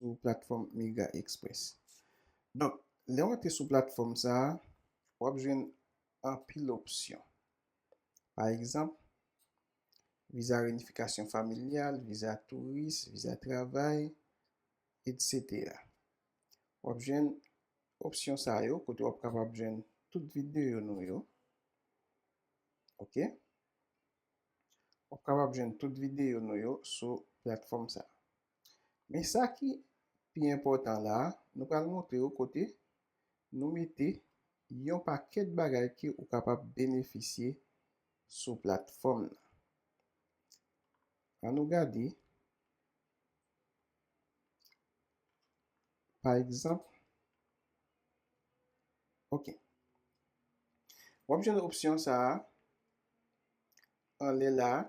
sou platfòm Migra Express. Donk, lè w antre sou platfòm sa a, w ap jwenn anpil opsyon. Pa egzanp, viza reyinifikasyon familyal, viza touris, viza travay, etsetera. W ap jwenn opsyon sa yo kote w ap kapab jwenn tout videyo nou yo. Ok. W ap kapab jwenn tout videyo nou yo sou platfòm sa a. Men sa ki pi enpòtan la a, nou pral montre ou kote nou mete yon pakèt bagay ke ou kapab benefisye sou platfòm nan. An nou gade, pa egzanp, ok, wap jwenn opsyon sa a anlè la a,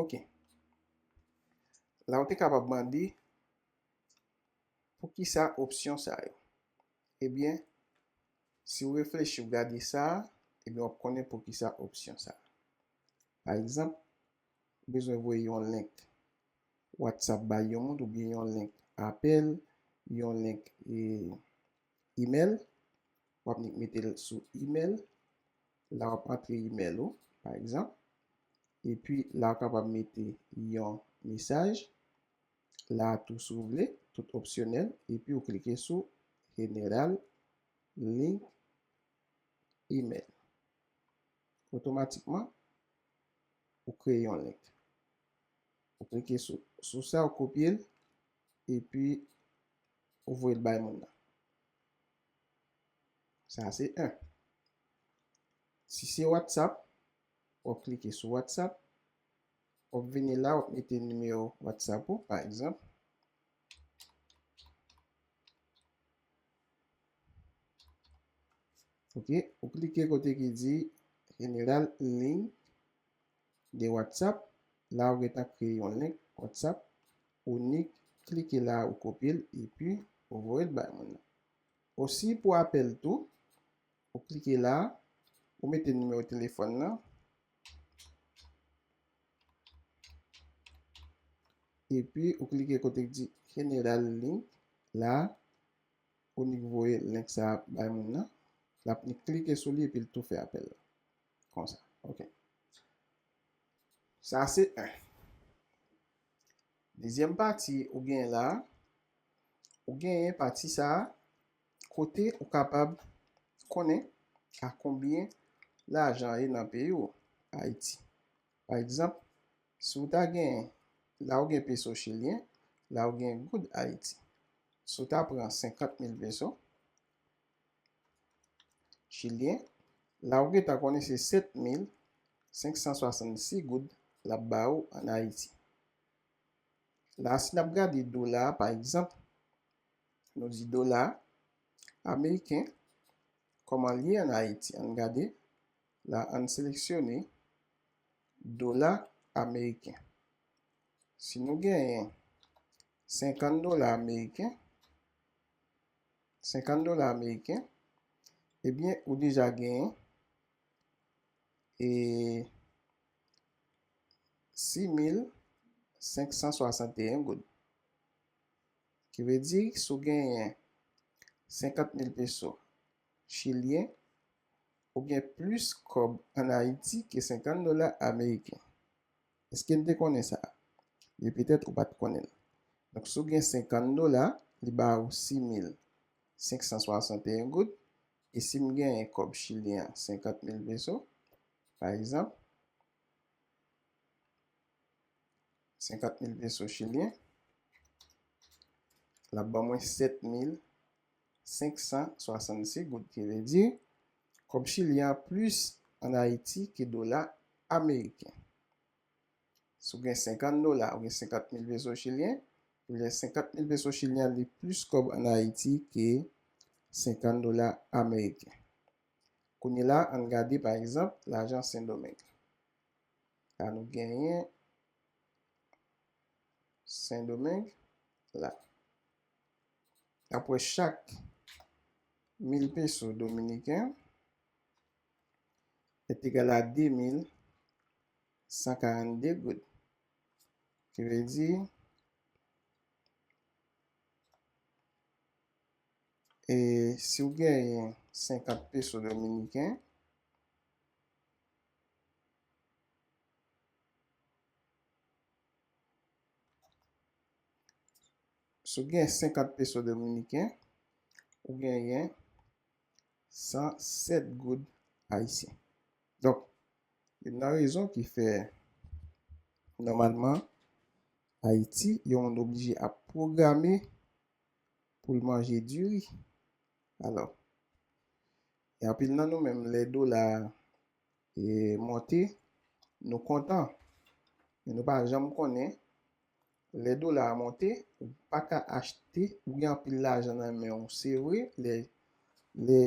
Ok. La ou te kapab mande, pou ki sa opsyon sa yo? Ebyen, eh si ou reflechi ou gade sa, ebyen eh wap konnen pou ki sa opsyon sa. Pa egzanp, ou bezwen voye yon link WhatsApp bay yon moun, oubyen yon link apèl, yon link e... email wap vin metel sou email la wap antre email ou pa egzanp epi la ou kapab mete yon mesaj la tou si ou vle tout opsyonèl epi ou klike sou general link email otomatikman ou kreye yon link ou klike sou sa ou kopyel epi ou voye l bay moun nan. Sa se 1. Si se WhatsApp, w ap klike sou WhatsApp, w ap vini la, w ap mete nimewo WhatsApp ou, pa egzanp. Ok, ou klike kote ki di General Link de WhatsApp, la ou gentan kreye yon link WhatsApp ou nik klike la ou kopyel epi ou voyel bay moun nan. Osi pou apèl tou ou klike la ou mete nimewo telefòn nan epi ou klike kote ki di general link la ou nik voye link sa bay moun nan lap nik klike sou li epil tou fè apèl la. Konsa, ok. Sa se 1. Dezyèm pati ou gen la, ou genyen pati sa a kote ou kapab konnen a konbyen lajan ye nan peyi ou, Ayiti. Pa egzanp, si ou ta gen, la ou gen peso chilyen, la ou gen goud Ayiti. Si ou ta pran 50 mil peso. chilyen la ou gentan konnen se 7566 goud lap ba ou an ayiti la si nap gade dola pa egzanp nou di dola ameriken kòman li ye an ayiti ann gade la ann seleksyone dola ameriken si nou genyen 50 dola ameriken 50 dola ameriken ebyen ou deja genyen e 6561 goud ki vle di si w genyen 50 mil peso chilyen ou gen plis kòb an ayiti ke 50 dola ameriken Eske n te konnen sa? E petèt ou pa t konnen l. Donk, si w gen senkann dola, li ba ou si mil senk san swasant e yen goud. E si m genyen kòb chilyen an, senkant mil peso, pa egzanp, senkant mil peso chilyen, l ap ban mwen sèt mil 566 goud ki vle di kòb chili an plis an ayiti ke dola ameriken si w gen 50 dola ou gen 50 mil peso chilyen ou gen 50 mil peso chilyen li plis kòb an ayiti ke 50 dola ameriken kounye la an n gade pa egzanp lajan sendomeng la nou genyen sendomeng la. Apre chak 1000 peso dominiken ap egal a 2142 goud. Ki vle di e si w genyen 50 peso dominiken Si w gen 50 peso dominiken, ou genyen 107 goud ayisyen. Donk, youn nan rezon ki fè nòmalman Ayiti yon moun oblije ap pwograme pou l manje diri. Alò, gen anpil nan nou menm lè dola a E monte, nou kontan. Men nou pa janm konnen, lè dola a monte, ou pa ka achte, ou gen anpil lajan nan men ou, se vre, lè lè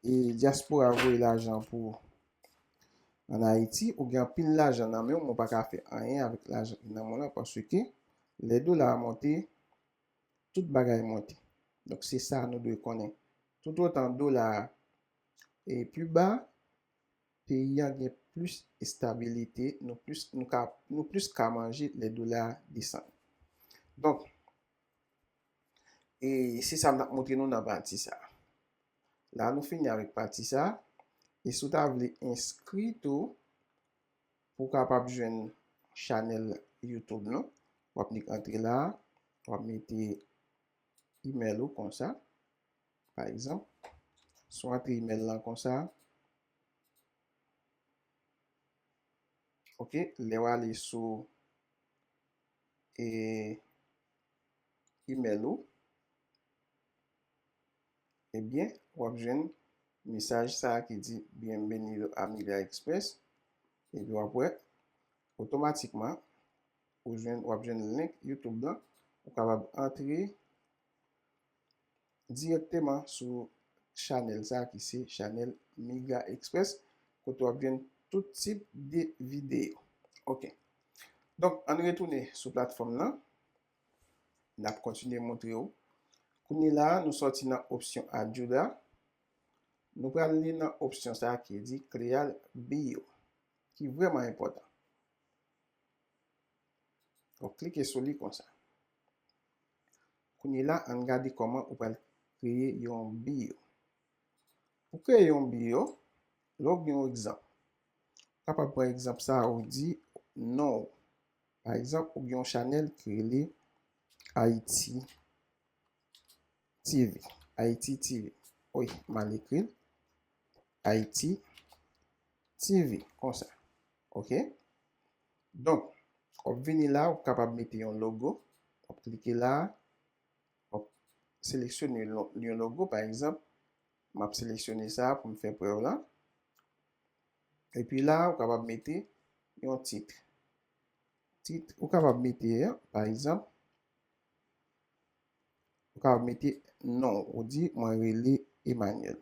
e dyaspora voye lajan pou an Ayiti, ou gen anpil lajan nan men ou, men ou pa ka fè anyen avèk lajan ki nan men w lan paske lè dola a monte, tout bagay monte. Donk se sa nou dwe konnen. Toutotan dola a e pi ba, peyi an gen plis estabilite, nou plis nou ka nou plis ka manje lè dola a desann. Donk, e se sa m t ap montre nou nan pati sa a. La nou fini avèk pati sa a, e si w ta vle enskri tou pou w kapab jwenn chanèl YouTube nou, w ap nik antre la a, w ap mete imèl ou konsa, pa egzanp, si w antre imèl lan konsa, ok, lè w ale sou e imèl ou, ebyen w ap jwenn mesaj sa ki di bienvenido a Migraexpress, epi w ap wè otomatikman ou jwenn, w ap jwenn link youtube lan, ou kapab antre. dirèkteman sou chanèl sa ki se chanèl Migra Express kote wap jwenn tout tip de videyo ok donk ann retounen sou platfòm lan nap kontinye moutre ou kounye la nou sòti nan opsyon adjud a nou pral li nan opsyon sa ki di clear bio ki vrèman enpòtan wap klike sou li konsa Kounye la ann gade kòman ou pral kreye yon biyo. Pou kreye yon biyo, lè w gen yon egzanp, ou kapab pran egzanp sa a ou di non ou. Pa egzanp, ou gen yon chanèl ki rele Ayiti TV, Ayiti TV. Wi, m al ekri l, Ayiti TV, konsa. Ok? Donk, wap vini la, wap kapab mete yon logo, wap klike la, wap seleksyone yon logo, pa egzanp, map seleksyone sa pou m fè prèv la, epi la ou kapab mete yon tit, tit ou kapab mete a, pa egzanp, ou kapab mete non w, ou di mwen rele Emmanuel.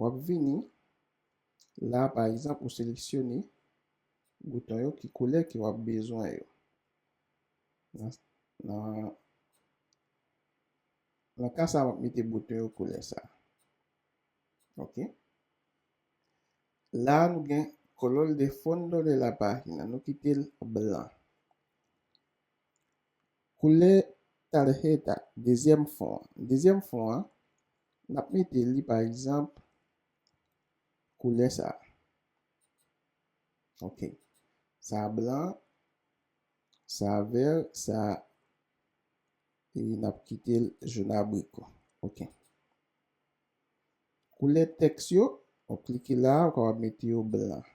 Wap vini la pa egzanp ou seleksyone bouton yo ki koulè ke wap bezwen yo nan nan ka sa wap mete bouton yo koulè sa ok la nou gen color de fondo de la pagina nou kitel blan. Koulè tarjeta dezyèm fon an. Dezyèm fon an, n ap mete li pa egzanp koulè sa a. Ok. Sa a blan, sa a vè, sa a e n ap kite l jon abriko. Ok. Koulè tèks yo, w ap klike la a, ou kapab mete yo blan.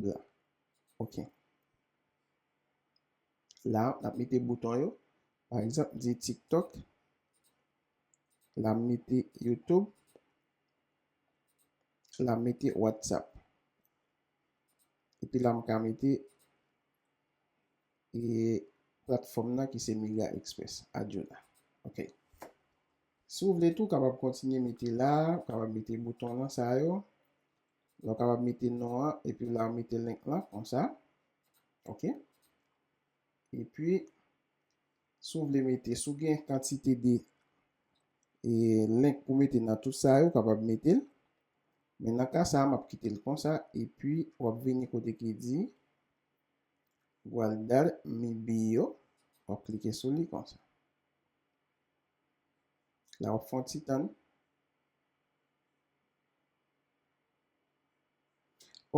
Blan. Ok. la nap mete bouton yo pa egzanp m di tik tok la m mete youtube la m mete whatsapp epi la m ka mete e platfòm nan ki se mega express adyola ok si w vle tou w kapab kontinye mete la ou kapab mete bouton nan sa yo la ou kapab mete non an epi la ou mete link lan konsa ok epi si ou vle mete si ou gen kantite de e link pou mete nan tout sa yo ou kapab mete l men nan ka sa map kite l konsa epi wap vini kote ki di guardar mi bio wap klike sou li konsa la wap fon ti tann.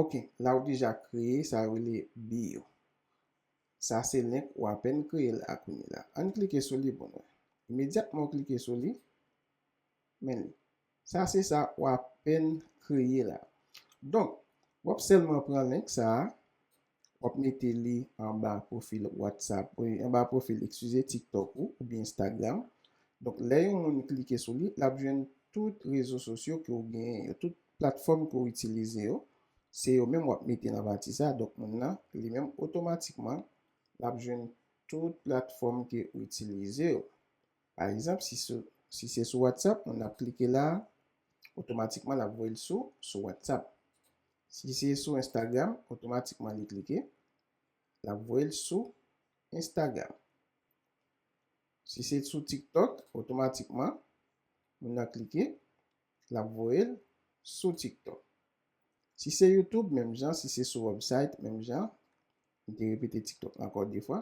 Ok la ou deja kreye sa yo rele bio sa se link ou apèn kreye l a kounye la ann klike sou li pou nou wè imedyatman ou klike sou li men li sa se sa ou apèn kreye la donk wap sèlman pran link sa Wap mete li anba profil whatsapp ou anba profil excuse tiktok ou oubyen instagram donk lè yon moun klike sou li lap jwenn tout rezo sosyo ke ou genyen yo tout platfòm ke ou itilize yo se yo menm wap mete nan pati sa donk moun nan li menm otomatikman lap jwenn tout platfòm ke ou itilize yo pa egzanp si sou si se sou whatsapp moun nan ap klike la otomatikman lap voyel sou sou whatsapp. Si se sou Instagram otomatikman li klike lap voyel sou Instagram. Si se sou tiktok otomatikman moun nan klike lap voyel sou tiktok. Si se youtube menm jan si se sou website menm jan m te repete tiktok la ankò 2 fwa.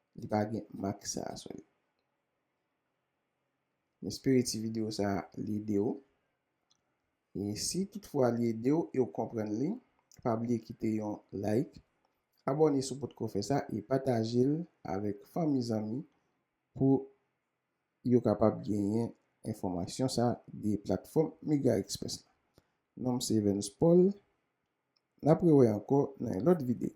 Li pa gen mak sa a sou li. M espere ti videyo sa a li ede w. E si tout fwa li ede w e w konprann li, pa bliye kite yon like, abòne si w potko fè sa e pataje l avèk fanmi zanmi pou yo kapab genyen enfòmasyon sa de platfòm MegaExpress la. Non m se Evens Paul. N ap rewè ankò nan yon lòt videyo.